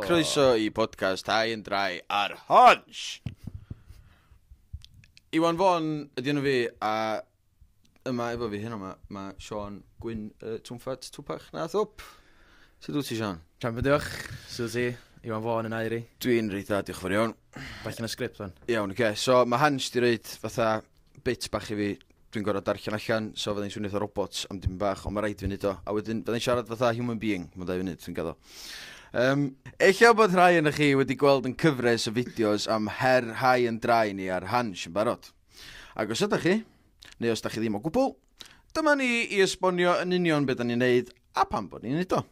croeso i podcast Hai yn Drai ar Hodge. Iwan Fon, ydy nhw fi, a Yma efo fi heno ma, ma Sean Gwyn uh, Twmffat Twpach na Thwp. Sut wyt ti, Sean? Sian bydiwch, sydd ti, Iwan Fôn yn airi. Dwi'n reit dda, diolch yn fawr iawn. Bach yn y sgript fan. Iawn, oce. Okay. So mae Hans di reid fatha bit bach i fi, dwi'n gorau darllen allan, so fydda'n swnio fatha robot am dim bach, ond mae rhaid fi wneud o. A wedyn fydda'n siarad fatha human being, mae'n dau funud, dwi'n gaddo. Um, eich bod rhai yn chi wedi gweld yn cyfres o fideos am her rhai yn drai ni ar Hans yn barod. Ac os ydych chi, neu os da chi ddim o gwbl, dyma ni i esbonio yn union beth da ni'n neud a pam bod ni'n neud o.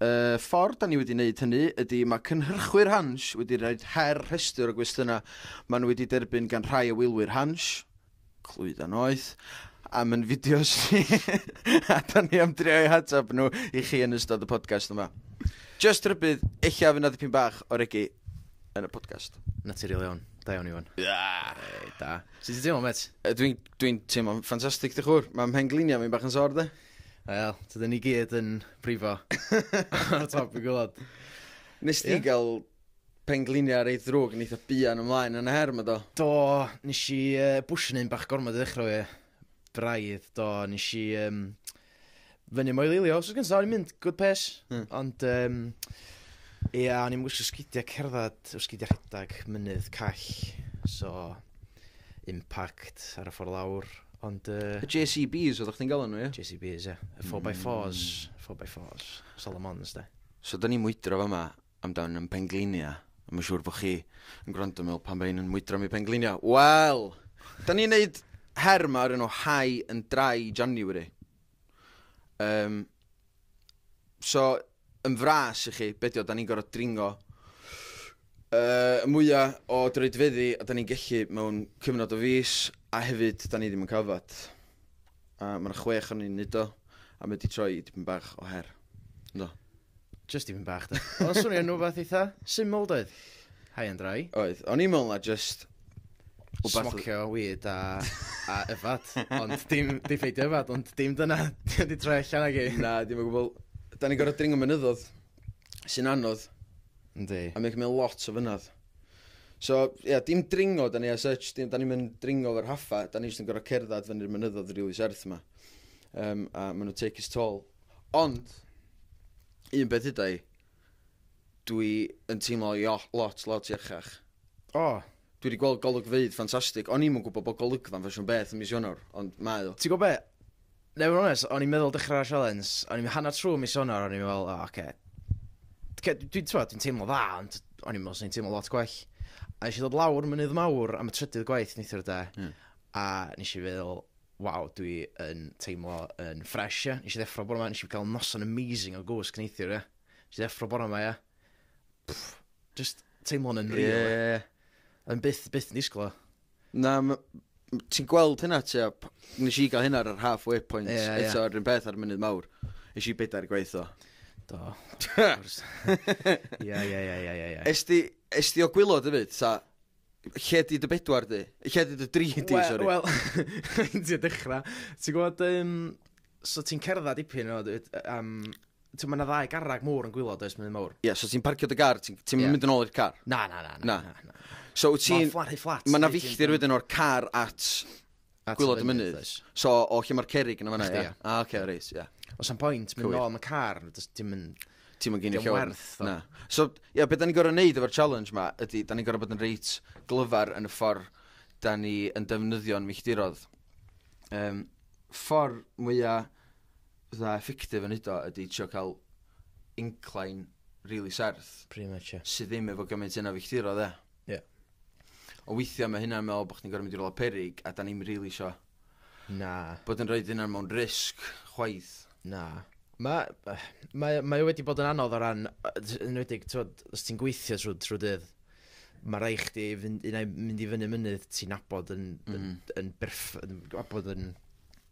Y ffordd da ni wedi wneud hynny ydy mae cynhyrchwyr Hans wedi rhoi her rhestr o gwestiynau maen nhw wedi derbyn gan rhai o wylwyr Hans, clwyddau noeth, am yn fideos ni, a da ni am drio i hatab nhw i chi yn ystod y podcast yma. Just rhybydd, eich af yna dipyn bach o regi. yn y podcast. Naturiol iawn. Da iawn, Iwan. Ia! Hey, da. Sut ti'n teimlo, met? Dwi'n dwi teimlo'n ffantastig, dy chwr. Mae mhengliniau fi'n bach yn sor, de. Wel, tydyn ni gyd yn brifo. Ar y top i gwlad. Nes ti yeah. gael pengliniau ar ei ddrwg yn eitha buan ymlaen yn y her yma, do? Do, nes i uh, bwysyn un bach gormod i ddechrau e. Braidd, do, nes i... Um, fyny moelilio. Os oes gen o'n i'n mynd good pace. Mm. Ond, um, ia, o'n i'n wisgo sgidiau cerdded, o sgidiau rhedeg, mynydd, call. So, impact ar y ffordd lawr. Ond... Uh, y JCBs oedd o'ch ti'n gael nhw, ie? JCBs, ie. Yeah. 4x4s, 4x4s, Solomons, da. So, da ni'n mwydro fa yma, amdan yn penglinia. A mae'n siŵr bod chi yn gwrando mewn pan mae un yn mwydro mi penglinia. Wel, da ni'n neud her yma ar un o High and Dry January. Um, so, yn fras i chi, bedio, da ni'n gorfod dringo uh, y mwyaf o droedfeddi a da ni'n gellu mewn cyfnod o fus a hefyd da ni ddim yn cyfod. A mae'n chwech o'n i'n neud o a mae wedi troi i dipyn bach o her. No. Just tipyn bach da. Oedd o'n swnio'n rhywbeth eitha syml doedd? High and dry. Oedd, o'n i'n meddwl na just... wbath- Smocio weed a, a yfad. Ond dim, dim ffeidio yfad, ond dim dyna. Di wedi troi allan ag i. Na, dim o gwbl. Da ni'n gorfod dringo mynyddodd, sy'n anodd, Yndi. a mae'n cymryd lot o fynad. So, ie, yeah, dim dringo da ni as such, dim, da ni'n mynd dringo o'r haffa, da ni jyst yn gorfod cerdded fyny'r mynyddodd rili serth yma. Um, a maen nhw take his toll. Ond, un beth yda i, dwi yn teimlo i o- lot, lot iachach. O! Dwi wedi gweld golygfeydd ffantastig. O'n i'm yn gwybod bod golygfa'n fersiwn beth yn mis Ionawr, ond mae o. Ti'n gwybod be? Neu fod yn onest, o'n i'n meddwl dechrau'r sialens, o'n i'n hanner trwy mis Ionawr, o'n i'n meddwl, o, oce. Dwi, dwi, dwi, dwi'n teimlo dda, ond o'n i'n meddwl sy'n teimlo lot gwell. A nes i ddod lawr mynydd mawr am y trydydd gwaith neithiwr da, mm. a nes i feddwl, waw, dwi yn teimlo yn ffres, ia. Nes i ddeffro bore ma, nes i gael noson amazing o gwsg neithiwr, ia. Nes i ddeffro bore ma, ia. Pff, just teimlo'n yn real, ia. Ie. Yn byth, byth yn disgwyl o. Na, ma- m- ti'n gweld hynna ti a p- nes i gael hynna ar yr halfway point Ie, ie. eto ar un peth ar y munud mawr. Nes i bedair gwaith o. Do. Ia, ia, ia, ia, ia, ia. Esti, esti o gwylod hefyd, ta? Lle di dy bedwar di? Lle di dy dri di, sori? Wel, ti'n ti dechrau. Ti'n gwybod, um, so ti'n cerdded dipyn o, um, ti'n mynd ddau garreg môr yn gwylod, oes mynd mawr? Ie, yeah, so ti'n parcio dy gar, ti'n ti yeah. mynd yn ôl i'r car? Na, na, na. na, na. na. na. So ti'n... Mae'n fflat. Mae'n filltir wedyn o'r car at At Gwylod y mynydd, oes. So, o lle mae'r cerig yn yma, ia? Ah, oce, okay, reis, ia. Os am pwynt, mynd nôl am y car, dim yn... Ti'n mynd gen i llawer. Na. So, ia, beth da ni'n gorau neud efo'r challenge ma, ydy, da ni'n gorau bod yn reit glyfar yn y ffordd da ni yn defnyddio'n milltirodd. Um, ffordd mwyaf dda effectif yn hyddo ydy trio cael incline really serth. Pretty much, yeah. Sydd ddim efo gymaint yna filltirodd, e. Ie. Ond weithiau mae hynna'n meddwl bod chdi'n gorfod mynd i rywle peryg a da ni'n rili isio... Na. ...bod yn rhaid hynna'n mewn risg chwaith. Na. Mae, mae, mae wedi bod yn anodd o ran, yn wedi, tywed, os ti'n gweithio trwy, trwy dydd, mae rai chdi fynd, unau mynd i fyny mynydd ti'n abod yn, mm. yn, yn berff, yn abod yn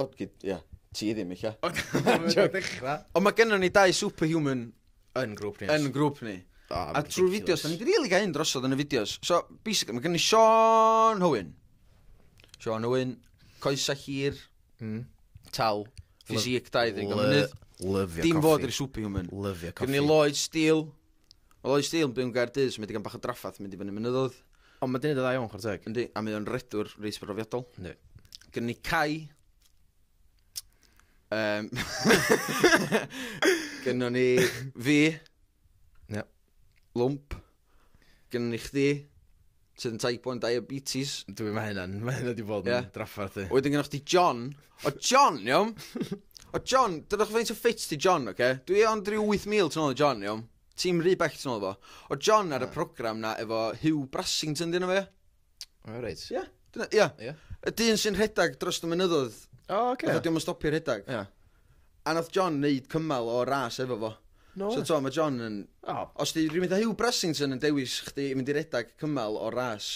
O, gyd, ia. Ti ddim eich. Ond mae gennym ni dau superhuman yn grŵp ni. Yn grŵp ni. Oh, a trwy'r fideos, da ni wedi rili gael un drosodd yn y fideos. So, basically, mae gennym ni Sean Hywyn. Sean Hywyn, coesa hir, mm. tal, ffisic, dau ddeg o mynydd. Lyfio coffi. Dim fod i'r superhuman. Lyfio coffi. Gynnu Lloyd Steele. Mae Lois Steele yn byw yn Gaerdydd, so mae digon bach o draffath mynd i fyny mynyddoedd. Ond mae 'di neud yn dda iawn, chwarae teg. Yndi, a mae o'n redwr reis brofiadol. Yndi. Gynnu ni Cai. Um, gynnu ni fi. Yep. Lwmp. Gynnu ni chdi. sydd yn type 1 diabetes. Dwi, mae hynna'n, mae hynna wedi bod yn yeah. draffarth i. Wedyn gynnwch chi John. O John, iawn? O John, dydych chi faint o ffit ti John, oce? Okay? Dwi ond rhyw 8,000 tyn ôl o John, iawn? Ti'n rhy bell tyn ôl fo. O John ar y program na efo Hugh Brassington, dyn nhw fe? O, reit. Ie. Ia. Y dyn sy'n rhedeg dros y mynyddodd. O, oce. Okay. Oedd o'n stopio rhedeg. Ia. A nath John neud cymal o'r ras efo fo. No way. So t'o' ma' John yn... O. Os 'di rywun fatha Huw Bressington yn dewis chdi i mynd i redag cymal o'r ras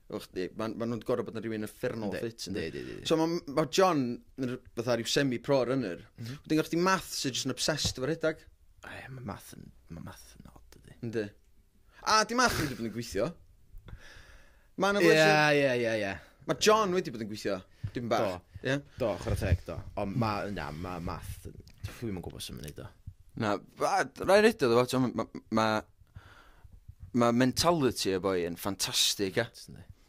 efo chdi, ma' ma' nhw'n gor'o' bod yn rywun uffernol o ffit yndi? Yndi yndi yndi. So ma' m- ma' John yn r- fatha ryw semi pro runner. M-hm. Wedyn gynno chdi Math sy jyst yn obsessed efo rhedag. O ie ma' Math yn ma' Math yn od dydi? Yndi. A, dim achos wedi bod yn gweithio. Mae yna blesio. Ie, ie, ie, ie. Mae John wedi bod yn gweithio. Dim bach. Do. Ie? Do, chwarae teg, do. Ond mae, na, mae math... Dwi'n ddim yn gwybod sy'n mynd i do. Na, rhaid redio ddo fo, mae ma, ma mentality y boi yn ffantastig, e.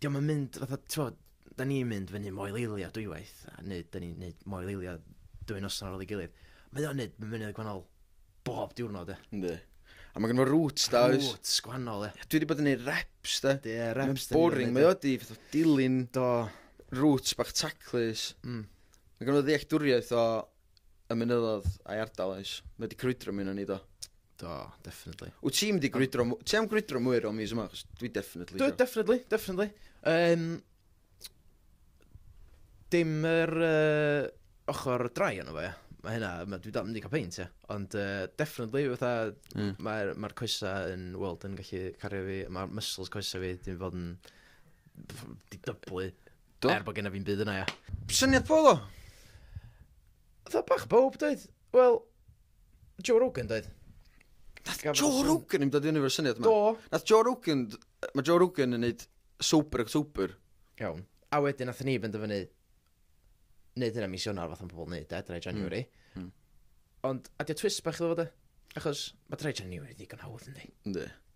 'dio'm yn mynd fatha t'mod, 'dan ni'n mynd fyny Moel Eilio dwywaith, a neu 'dan ni'n neud Moel Eilio dwy noson ar ôl ei gilydd. Mae o'n neud myfyniad gwahanol bob diwrnod ia. Yndi. A ma' gynno fo roots da oes? Roots gwahanol ia. Dwi 'di bod yn neud reps de. Ie reps da ni wedi neud. Boring mae o di fatha dilyn Do. roots bach taclus. Mm. Ma' gynno fo ddealltwriaeth o y mynyddo'dd a'i ardal oes? Mae 'di crwydro mi ynon ni do. Do, definitely. Wyt ti'n mynd i gwrydro... Ti am gwrydro mwy o mis yma? Chos dwi definitely... Dwi, definitely, definitely. Um, dim yr uh, ochr drai yno fe. Mae hynna, mae, dwi dal mynd i cael peint, ie. Ond uh, definitely, fatha, mm. mae'r ma coesa yn, well, yn gallu cario fi, mae'r muscles coesa fi, dim fod yn di dyblu. Do? Er bod gen i fi'n byd yna, ia. Syniad bolo? Dda bach bob, dweud. Wel, Joe Rogan doedd? Nath Joe Rogan yn dod i fyny efo'r syniad yma? Do. Nath Joe Rogan... Mae Joe Rogan yn neud Sober October. Iawn. A wedyn nath ni fynd o fyny neud hynna mis Ionar fath o'n pobl neud e, drai January. Mm. Mm. Ond, a di o twist bach iddo fo de? Achos mae drai January ddigon hawdd yndi? Yndi.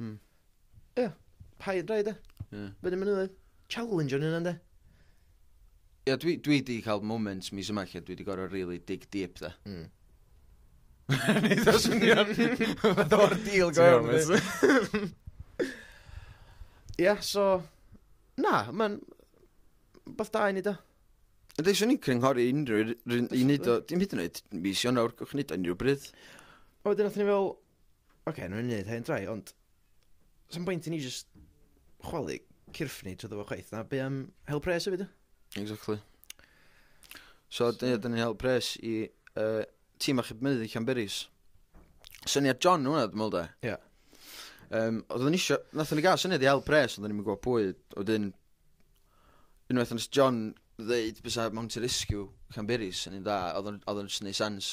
Mm. Ia, paid drai de. Yeah. Fydde ddim yn ymwneud. Challenge o'n hynna, de. Ia, dwi, dwi di cael moments mis yma lle dwi di gorau really dig deep, de. Mm. Nid o swnio. Fod o'r deal go iawn. Ia, so... Na, mae'n... Beth da i ni, da. Ydy, swn i'n cynghori unrhyw un i wneud o, dim hyd yn oed mis Ionawr, gwych wneud o unrhyw bryd. O, wedyn nath ni fel, Ok, nhw'n mynd i wneud hen drai, ond... Sa'm bwynt i ni jyst chwalu cyrff ni trwy ddo chwaith. Na, be am hel pres hefyd, e? Exactly. So, so... dyn ni'n hel pres i uh, tîm achub mynydd i Camberis. Syniad John hwnna, dwi'n meddwl da. Ie. Yeah. Um, oedden ni eisiau, nathon ni gael syniad i hel pres, oedden ni'n mynd gwybod pwy, oedden, unwaith yn John ddeud bys a Mountain Rescue, Camberis, yn un da, oedden nhw'n neud sens.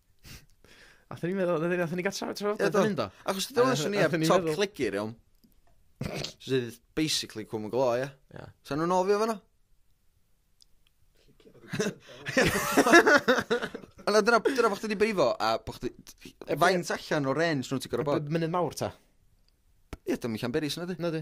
Nath ni meddwl, nath ni- nath ni gael trafod trafod Ie, do. hyn do. Achos ti'n dod swn i ar Nathon ni top meddwl- cligir, iawn. Sydd basically cwm y glo, ie. Ie. Sa'n nhw'n ofio fanna? Ond dyna, dyna bod chdi wedi brifo, a bod chdi... E, Faint allan o range nhw ti'n gorau bod? Mynd yn mawr ta? Ie, dyma Llanberis yna di. Na di.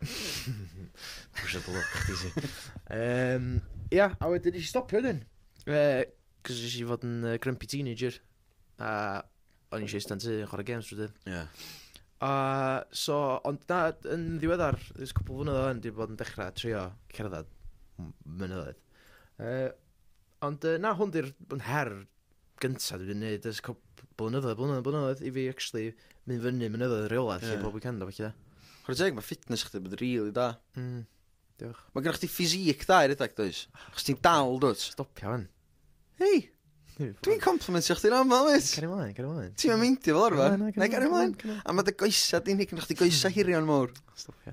Pwysio dy lwc chdi ti. Yym, ia, a wedyn nes i stopio wedyn. Yy, cos nes i fod yn yy, grumpy teenager. A o'n i eisiau eistedd yn tŷ yn chwarae games trwy dydd. Ie. A so, ond na, yn ddiweddar, ys cwpl flynedd o'n dwi bod yn dechrau trio cerdded m- mynyddoedd. Yy, Ond yy na hwn 'di'r b- her gynta dwi 'di neud ers cwp- b- blynyddoedd blynyddoedd blynyddoedd i fi actually mynd fyny mynyddoedd rheola Ie. 'lly pob weekend a ballu de. Chware teg ma' fitness chdi 'di bod rili da. Hmm. Diolch. Ma' gynnoch chdi physique da i redeg does? Achos ti'n dal dw't? Stopia 'wan. Hei! Dwi'n complimentio chdi'n amal wyt? Cario mlaen, cario mlaen. Ti'm yn meindio fel arfer. Na, na, cario Nai gario mlaen, mlaen. cario mlaen. A ma' dy goesa di'n hŷn, gynnoch chdi goesa hirion mowr. Stopia.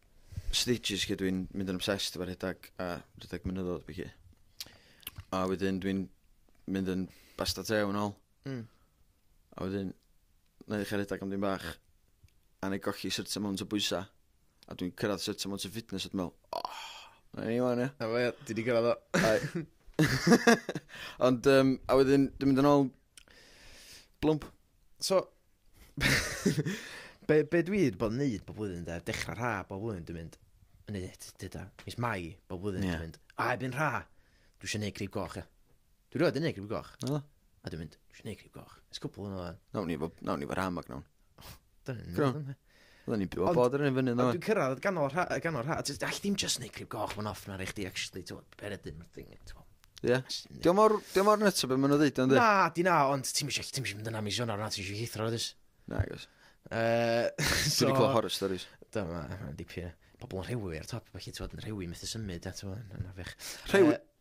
stages lle dwi'n mynd yn obsessed efo rhedeg a rhedeg mynyddodd bych i. A wedyn dwi'n mynd yn basta te yn ôl. Mm. A wedyn, na i chi rhedeg am ddim bach. A na i golli syrt amount o bwysa. A dwi'n cyrraedd syrt amount o fitness at mewn. Oh, na ni wan, ia. A fe, di di cyrraedd o. Ond, um, a wedyn, dwi'n mynd yn ôl blwmp. So, be, be dwi wedi bod yn neud bob blwyddyn de, dechrau rha bob blwyddyn dwi'n mynd, yn neud dyda, mis mai bob blwyddyn yeah. dwi'n mynd, a ebyn rha, dwi eisiau neud crib goch ia. Dwi roed yn neud crib goch. No. A dwi'n mynd, dwi eisiau neud crib goch. Ys cwpl yn o'n. Nawn ni fo, nawn ni fo rha mag nawn. Dwi'n mynd. Oedden ni'n byw o bod rhywun fyny yno. Ond dwi'n cyrraedd y ganol rha, ganol rha. All ddim just neud crib goch, mae'n off na rei chdi, actually, ti'n bod, peredyn, mae'n thing, ti'n bod. Ie. Diolch mor, diolch mor nytio beth maen nhw'n ddeud, ond e? Na, di na, ond ti'n mysio, ti'n mysio mynd yna mis yna, ti'n mysio hithro, ydys. Na, gos. Uh, so, Dwi'n clywed horror stories. Dyma, mae'n dipyn. Pobl yn rhewi ar top, felly ti'n bod yn rhewi methu symud, ti'n bod, yn afech. Rhewi? Uh,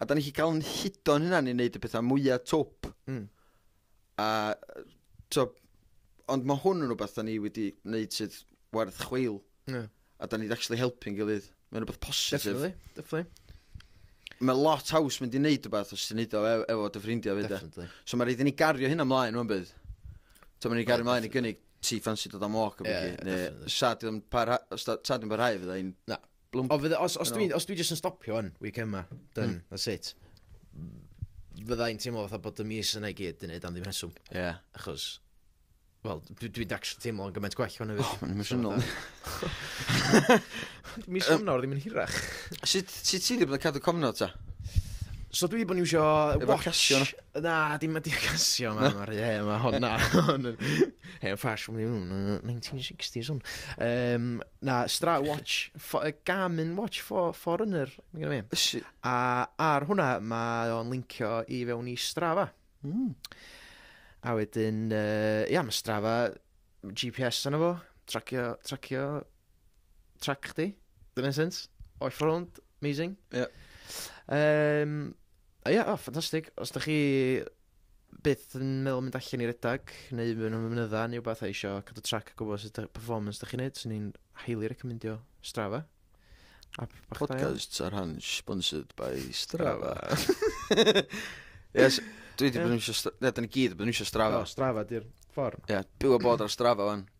A da ni chi cael yn hudo'n hynna'n i wneud y pethau mwyaf twp. Mm. A, to, ond mae hwn yn rhywbeth da ni wedi wneud sydd werth chweil. Yeah. A da ni'n actually helpu'n gilydd. Mae'n rhywbeth positif. Definitely, definitely mae lot haws mynd i wneud rhywbeth os ti'n neud o efo, efo dy ffrindiau fyd. E. So mae rhaid i ni gario hynna mlaen rhywun bydd. So mae ni gario mlaen i gynnig ti ffansi dod am walk o beth. Sa di'n parhau fydda i'n... Na. Blwm- O fydde os os dwi os dwi jyst yn stopio 'wn weekend 'ma done hmm. that's it. Fydda i'n teimlo fatha bod y mis yna i gyd yn neud am ddim rheswm. Ie. Achos wel dwi dwi'n actually teimlo yn gymaint gwell hwn hefyd. Oh, mae'n emosiynol. Mis Ionawr ddim yn hirach. Sut sut ti wedi bod yn cadw cofnod ta? So dwi wedi bod yn iwsio watch Na, dim wedi casio yma, mae'r he, mae hon na. Hen ffasiwn ni hwn, 1960s hwn. Um, na, Stra Watch, fo, uh, Garmin Watch for, Foreigner, mae gen i mi. A ar hwnna, mae o'n lincio i fewn i Strava. Mm. A wedyn, uh, ia, mae Strava, GPS yna fo, tracio, tracio, trac chdi, dyna'n sens, o'i ffrwnd, amazing. Ie. Yeah. Um, A ia, o, ffantastig. Os da chi byth yn meddwl mynd allan i redag, neu mynd am ymwneud neu wbeth a eisiau cadw trac a gwybod sut y performance da chi'n neud, sy'n ni'n highly recommendio Strava. App bach da iawn. Podcasts ar han sponsored by Strava. Yes, dwi wedi Ie. bod yn eisiau... Stra- Na, da ni gyd wedi bod yn eisiau Strava. O, Strava, di'r ffordd. Ie, byw a bod ar Strava wan.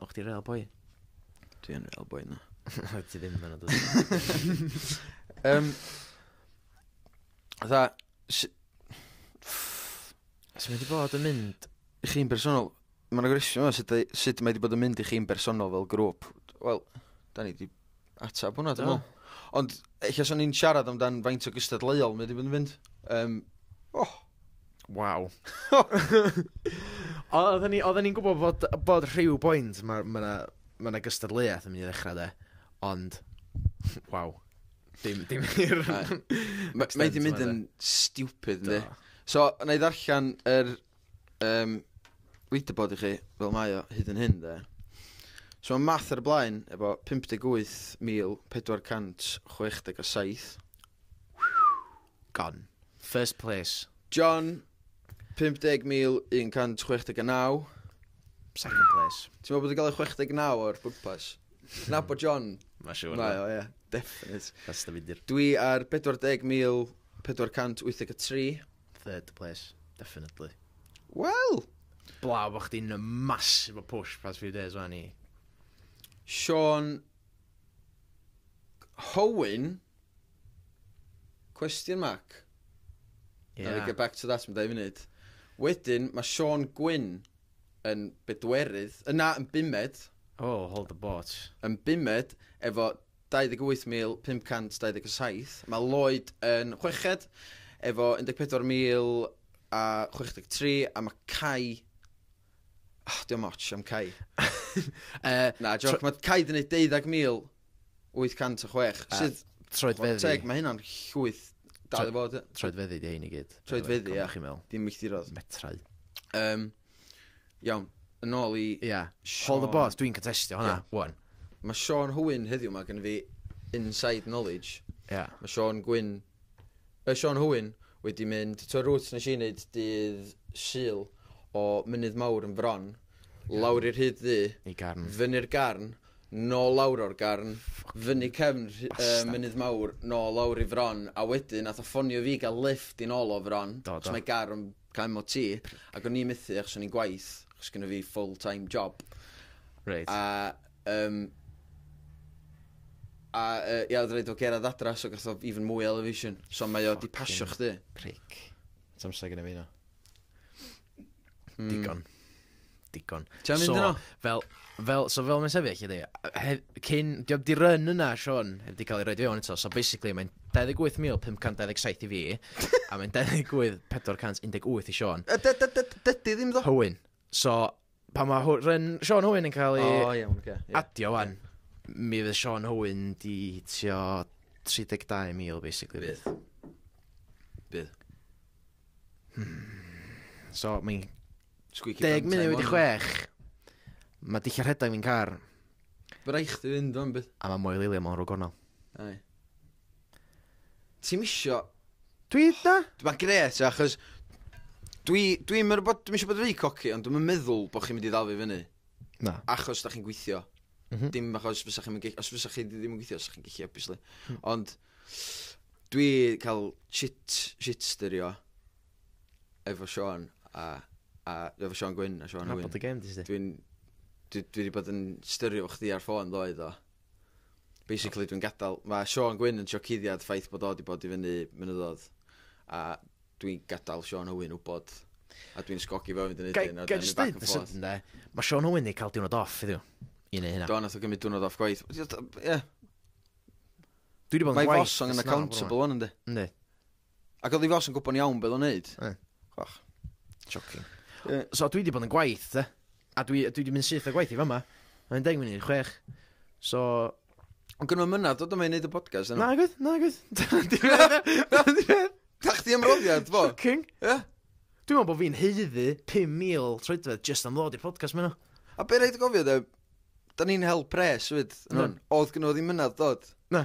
O, chdi real boi. Dwi yn real boi, na. Oedd ti ddim yn dod. Um, dda, s- Os mae wedi bod yn mynd... i chi'n bersonol, mae'n agresio yma sut, ei- sut mae wedi bod yn mynd i chi'n bersonol fel grŵp. Wel, da ni wedi ateb hwnna, dwi'n Do. meddwl. Ond, eich os o'n i'n siarad amdan faint o gystadleuol mae wedi bod yn mynd, um, oh, Waw. O- oedden ni oedden ni'n gwbod fod bod rhyw bwynt ma' ma' 'na ma' 'na gystadleuaeth yn myn' i ddechra 'de? Ond waw. Dim dim i'r Na. Ma' mae 'di mynd yn stupid yndi? Do. So, wna i ddarllen yr yym leaderboard i chi fel mae o hyd yn hyn de. So mae Math ar y blaen efo 58,467. Gone. First place. John, 50,169. Second place. Ti'n meddwl bod yn cael ei 69 o'r pwrpas? Na bod John. Mae siwr. Mae o, ie. Definite. That's the midir. Dwi ar 40,483. Third place. Definitely. Wel! Blaw bod chdi'n massive o push past few days o'n i. Sean Howen, Question mark. Yeah. Now we get back to that am dau funud. Wedyn, mae Sean Gwyn yn bedwerydd, yna yn bumed. Oh, hold the boat. Yn bumed, efo 28,527. Mae Lloyd yn chweched, efo 14,063, a mae Cai Oh, diolch moch am Cai. uh, Na, joc, mae Cai di wneud 12,806, sydd... Troedfeddi. Teg, mae hynna'n llwyth dal i fod. Troedfeddi di hyn i gyd. Troedfeddi, ia. Dim milltirodd. Metrau. Um, iawn, yn ôl i... Ia, yeah. hold the boss, dwi'n contestio hwnna, yeah. one. Mae Sean Hwyn heddiw yma gen fi inside knowledge. Ia. Yeah. Mae Sean Gwyn By Sean Hywyn wedi mynd, t'wod route nes i neud dydd Sul o Mynydd Mawr yn Fron, lawr i'r Rhyd Ddu, I Garn. fyny'r Garn, nôl lawr o'r Garn, fyny cefn uh, Mynydd Mawr, nôl lawr i Fron, a wedyn nath o ffonio fi gael lift i nôl o Fron, Do, do. mae gar yn cael MOT, ac o'n i'n methu achos o'n i'n gwaith, achos gynno fi full-time job. Reit. A Yym a yy ia odd raid o gerad adra so gath o even mwy o elevation. So mae o 'di pasio chdi. Prick. O's amser gyda fi na? Hmm. Digon. Digon. Ti am mynd yno? Fel, fel, so fel mae'n sefyll i chi di, cyn, diolch di run yna, Sean, heb di cael ei roed i fewn eto, so basically mae'n 28,527 i fi, a mae'n 28,418 i Sean. Dydy ddim ddo. Hywyn. So, pan mae Hw- Ryn- Sean Hwyn yn cael ei O, iawn, oce. ie. adio wan, mi fydd Sean Hwyn di hitio 32,000 basically. Bydd. Bydd. So, mae'n Squeaky 10 bum munud time wedi on. chwech. Mae dillad rhedeg fi'n car, Bydd rhaid chdi fynd o'n bydd. a mae Moel Eilio mewn rhwg gornel. Ai. Ti'm isio... Dwi eitha... Mae'n gret, achos dwi, dwi ddim yn bod, dwi eisiau bod rhy coci, ond dwi'n meddwl bod chi'n mynd i ddal fi fyny. Na. Achos da chi'n gweithio. Mm -hmm. Dim achos fysa chi'n mynd, os fysa chi ddim yn gweithio, fysa chi'n gweithio, obviously. Mm. Ond dwi cael shit, shit styrio efo Sean a, a efo Sean Gwyn a Sean Gwyn. Dwi'n dwi, dwi wedi bod yn styrio chdi ar ffôn ddoedd o. basically dwi'n gadael, mae Sean Gwyn yn trio cuddiad ffaith bod o wedi bod i fyny mynyddodd, a dwi'n gadael Sean Owen wybod, a dwi'n sgogi fo fynd yn ydyn, a dwi'n back and forth. Mae Sean Owen wedi cael diwrnod off iddo, i neu hynna. Do, nath o gymryd diwrnod off gwaith. Ie. Dwi wedi bod yn gwaith. Mae Fosong yn accountable o'n ynddi. Ynddi. Ac oedd hi fos yn gwybod iawn beth o'n neud. Ie. Chwach. Joking. Yy, So dwi wedi bod yn gwaith, te. A dwi, dwi wedi mynd syth o gwaith i fama. Mae'n deg munud i'r chwech. So... Ond gynnu mynna, dod yma i neud y podcast yna. Na, gwyth, na, gwyth. Da chdi ymroddiad, fo. Shocking. Ie. Dwi'n meddwl bod fi'n heiddi 5,000 troedfedd just am ddod i'r podcast mynd A be rhaid i gofio, de, da ni'n hel pres, fyd, yn Ie. hwn. Oedd gynnu ddim mynad dod. Na.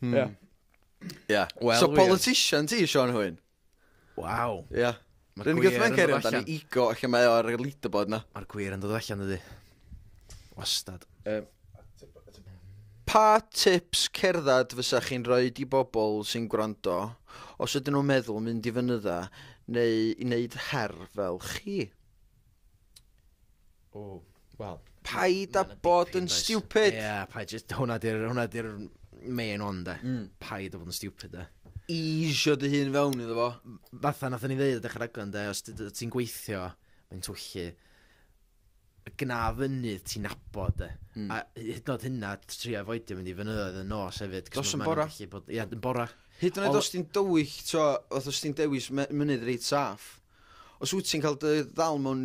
Hmm. Ia. Ia. Wel, So wir. politician ti, Sean Hwyn? Waw. Ia. Ma'r Rwy'n gwir gwybod yn mae'n dod cerio amdani allan. ego ac yma o'r leaderboard na. Mae'r gwir yn dod allan ydy. Wastad. Pa tips cerdded fysa chi'n rhoi i bobl sy'n gwrando os ydyn nhw'n meddwl mynd i fynydda neu i wneud her fel chi? O, wel... Paid â bod yn stupid! Ie, paid jyst... Hwna di'r... Hwna di'r main one, de. Mm. Paid â bod yn stupid, de. Eisio dy hun fewn iddo fo. Fatha nathon ni ddeud dechrau raglen, de, os ti'n gweithio, mae'n twyllu gna fyny ti'n nabod e. Mm. A hyd nod hynna, tri a foedio mynd i fynyddoedd yn nos hefyd. Dos yn bora. Ie, yn bora. Hyd yn oed os ti'n dywyll, tro, oedd os ti'n dewis mynydd reit saff. Os wyt ti'n cael dy ddal mewn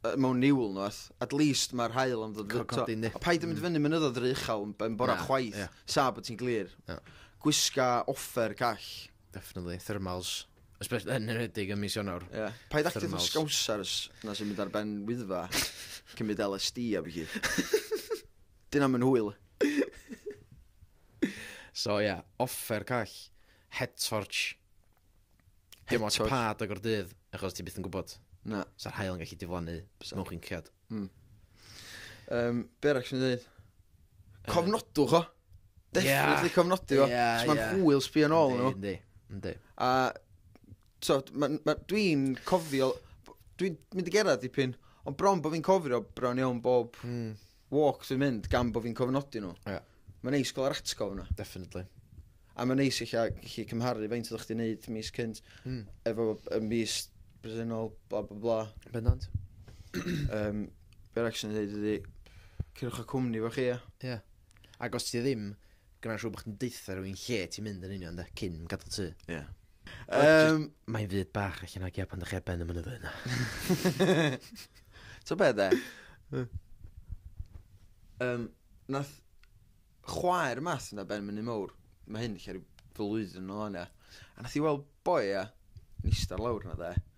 yy mewn niwl nweth, at least mae'r haul yn ddod... Cael codi yndi. A paid â mynd i fyny mynyddoedd yr uchel yn yn bora Na, chwaith, ie. sa bod ti'n glir. Na. Gwisga offer call. Definitely, thermals. Espe- yn enwedig ym mis Ionawr. Ie. Paid actio fatha Thermals. scousers 'na sy'n mynd ar ben Wyddfa, cymryd LSD a ballu. 'Di hynna'm yn hwyl. So ia, offer call, head torch. Dim ots pa adeg o'r dydd, achos ti byth yn gwybod. Na. Sa'r hael yn gallu diflannu mewn chinciad. Mm. Um, be arall sy'n dweud? Cofnodwch o. Definitely cofnodi o. Yeah, Mae'n yeah. hwyl sbio yn ôl nhw. Yndi, yndi. A so, ma, ma, dwi'n cofio, dwi'n mynd i gerad dipyn, ond bron bod fi'n cofio bron iawn bob mm. walk dwi'n mynd gan bod fi'n cofnodi nhw. Ie. Mae'n neis gael yr atgof yna. Definitely. A mae'n neis eich gallu cymharu faint oeddech chdi'n neud mis cynt mm. efo y mis bresennol, bla bla bla. Bendant. um, Be'r ac sy'n dweud ydi, cyrwch y cwmni fo chi, ia. Ia. Ac os ti ddim, gyda'n siŵr bod chdi'n deutha rhywun lle ti'n mynd yn union, da, cyn gadael tŷ. Ia. Um, Mae'n fyd bach allan o gia pan ddech chi ar ben y mynyddoedd yna. so be de? um, nath chwaer mas yna ben mynd i mawr. Mae hyn lle rhyw flwyddyn yn ôl yna. A nath i weld boi a nista'r lawr yna de.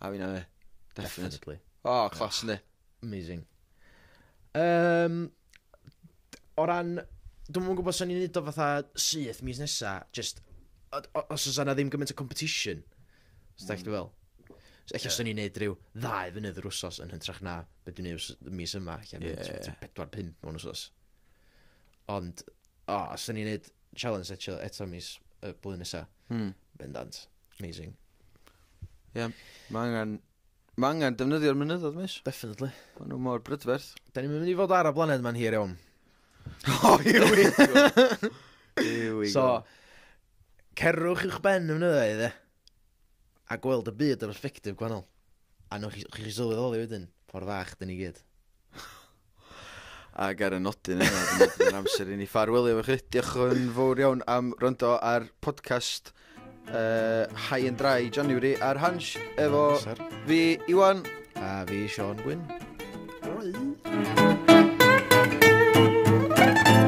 A fi'n yy definate. Definitely. O clos yndi. Amazing. Um, o ran... Dwi'n yn gwybod sy'n ni'n neud o fatha syth mis nesa, just, os oes yna ddim gymaint o competition, os da mm. chi fel. So, eich yeah. sy'n ni'n neud rhyw ddau fynydd yr wsos yn hyntrach na beth dwi'n neud mis yma, eich yeah, yeah, yeah. 4-5 mewn wsos. Ond, o, os da ni'n neud challenge eto, eto mis y blwyddyn nesaf, Hmm. Bendant. Amazing. Ie, yeah, mae angen, ma angen defnyddio'r mynyddodd, mis. Definitely. Mae nhw mor brydferth. Da ni'n mynd i fod ar y blaned ma'n hir iawn. oh, here we go. here we so, go. cerwch i'ch ben y mynyddoedd, e. A gweld y byd o'r perspectif gwahanol. A nhw'n chi, chi sylweddoli wedyn, ffordd fach, dyn ni gyd. Ac ar y nodyn yna, mae'n amser i ni ffarwelio efo chi. Diolch yn fawr iawn am rondo ar podcast uh, High and Dry January ar Hans efo fi Iwan a fi Sean Gwyn. Rwy.